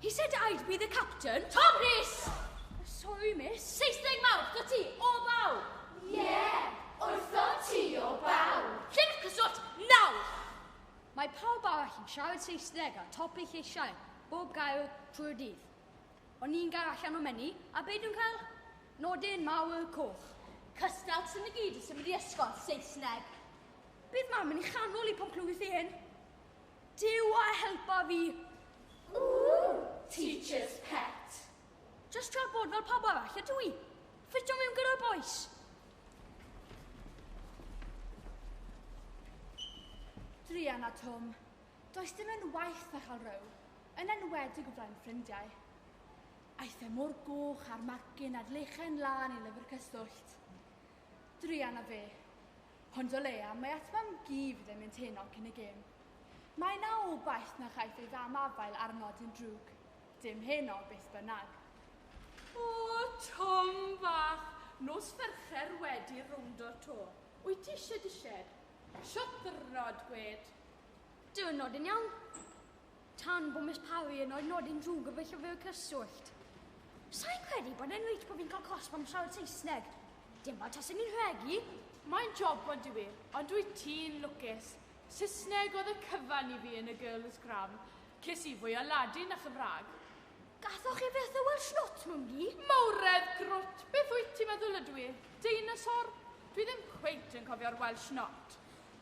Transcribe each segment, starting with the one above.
He said I'd be the captain. Tom Rhys! Sorry, miss. Saesneg mawr, wrth ti, o baw! Yeah, wrth ti, o baw! Llyfr cyswllt, nawr! Mae pawb arall yn siarad Saesneg a top eich eisiau, bob gair trwy'r dydd. Ond ni'n gair allan o menu, a be dwi'n cael? Nodyn mawr coch. Cystal sy'n y gyd yn symud i ysgol Saesneg. Bydd mam yn ei chanol i pan clywith ei hyn. Duw a helpa fi! Ooh, teacher's pet. Just trio bod fel pawb arall, ydw i. Ffitio mewn gyda'r boys. Drian a Tom, does dim yn waith na chael row, yn enwedig o flaen ffrindiau. Aeth e mor goch a'r magin a'r lechen lan i lyfr cyswllt. Drian a fe, Ond o leia, mae at mam gi fydd yn mynd heno cyn y gêm. Mae na obaith na chaiff ei fam afael ar nodyn drwg. Dim heno, beth bynnag. O, Tom fach, nos Fercher wedi rowndo'r to. Wyt ti ishe disheb? Sho ddyrnod, gwed. Dyrnod yn iawn. Tan bo Miss Parry yn rhoi nodyn drwg yn fy llyfr cyswllt. Sai'n credu bod e'n reit bo fi'n cael cosb am siarad Saesneg. Dim fel tasen i'n rhegi. Mae'n job ond yw i, ond wyt ti'n lwcus. Saesneg oedd y cyfan i fi yn y Girls Gram. Ces i fwy o Ladin a Chymraeg. Gathoch chi fyth y Welsh Not mewn du? Mawredd grwt, beth wyt ti'n meddwl ydw i, deinosor? Dwi ddim cweit yn cofio'r Welsh Not.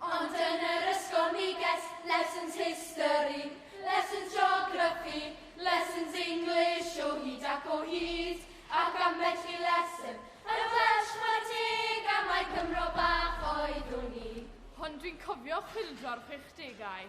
Ond yn yr ysgol mi ges lessons history, lessons geography, lessons English o hyd ac o hyd, ac ambell i lesson yn Welsh chwarae teg am mai Cymro bach oeddwn i. Hon dwi'n cofio chwyldro'r chwechdegau.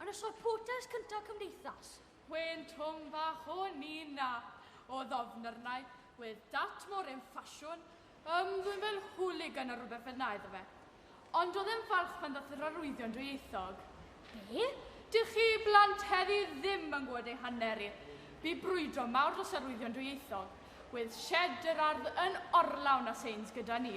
Ar y sorphotes cynta cymdeithas. Wên twm fach o Nina o ddofnyrnau wedd dat mor en ffasiwn ym dwi'n fel hooligan neu rhywbeth fel na iddo fe. Ond oedd e'n falch pan ddath yr arwyddion dwyieithog. Be? Dych chi blant heddi ddim yn gwybod ei hanner i. Bu brwydro mawr dros arwyddion dwyieithog. Wedd sied yr ardd yn orlawn a seins gyda ni.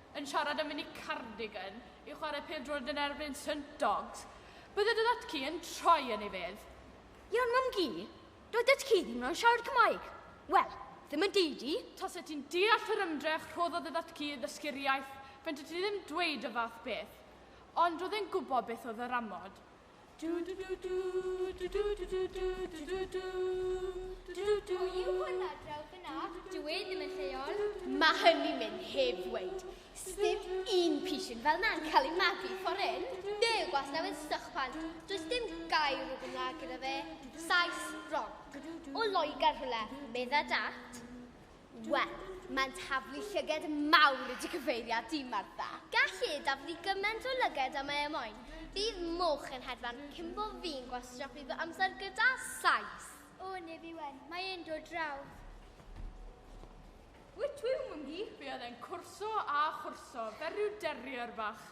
yn siarad am mynd i Cardigan i chwarae pêl-droed yn erbyn St Dogs, bydde dy dad-cu yn troi yn ei fedd. Iawn, mam-gu, doedd dad-cu ddim yn siarad Cymraeg. Wel, ddim yn deud i. Taset ti'n deall yr ymdrech rhoddodd dy dad-cu i ddysgu'r iaith, fentet ti ddim dweud y fath beth. Ond roedd e'n gwybod beth oedd yr amod. Mae hynny'n mynd heb ddweud. Sdim un pishyn fel na'n cael ei magu ffordd hyn. Fe yw gwastaw yn sych pan. Does dim gair o Gymraeg gyda fe. Saes, wrong. O Loegr rhywle, medda dat. Wel, mae'n taflu llyged mawr y cyfeiriad di, Martha. Gallu e daflu gymaint o lyged am ei moyn. Bydd moch yn hedfan cyn bo fi'n gwastraffu fy amser gyda Sais. O, neb fi wen, mae e'n dod draw. Wyt ti yw, Mwngi? Fe oedd e'n cwrso a chwrso, fel rhyw derrier fach.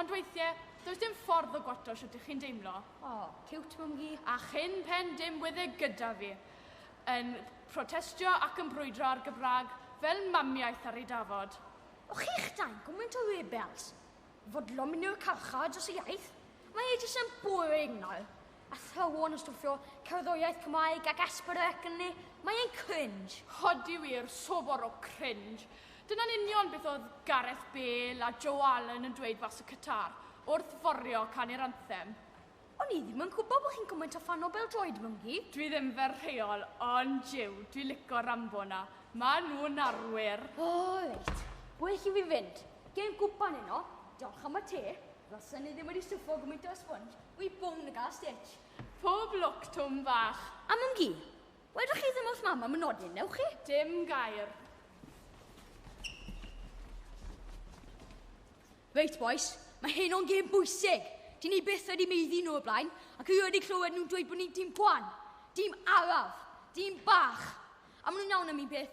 Ond weithie, does dim ffordd o gwato shwt ych chi'n deimlo. O, ciwt mwngi. A chyn pen dim wedd e gyda fi, yn protestio ac yn brwydro ar Gymrag fel mamiaith ar ei dafod. O chi'ch dau, gwmynt o rebels! Fodlon mynd i'r carchar dros y iaith? Mae e jyst yn boring nawr. Athrawon yn stwffio cerddoriaeth Cymraeg ac Asper ac ynni, mae e'n cringe. Ydi wir, sobor o cringe. Dyna'n union beth oedd Gareth Bale a Joe Allen yn dweud fas y cytar, wrth forio canu'r anthem. O'n i ddim yn gwybod bod chi'n gymaint o ffan o bêl-droed, Mwnci. Dwi ddim fel rheol, ond jiw, dwi lico Rambo 'na. Ma' nhw'n arwyr. O, reit. Well i fi fynd. Gêm gwpan heno. Diolch am y te. Rosen ni ddim wedi swffo gymaint o sponge, we bown y gas stitch. Pob lwc, Twm fach. A Mam Gi, wedwch chi ddim wrth Mam am y nodyn, newch chi? Dim gair. Reit, boys, mae hyn o'n gêm bwysig. Dyn ni byth wedi meiddi nhw y blaen, ac i wedi clywed nhw'n dweud bod ni'n dim gwan, dim araf, dim bach. A maen nhw'n iawn am un peth,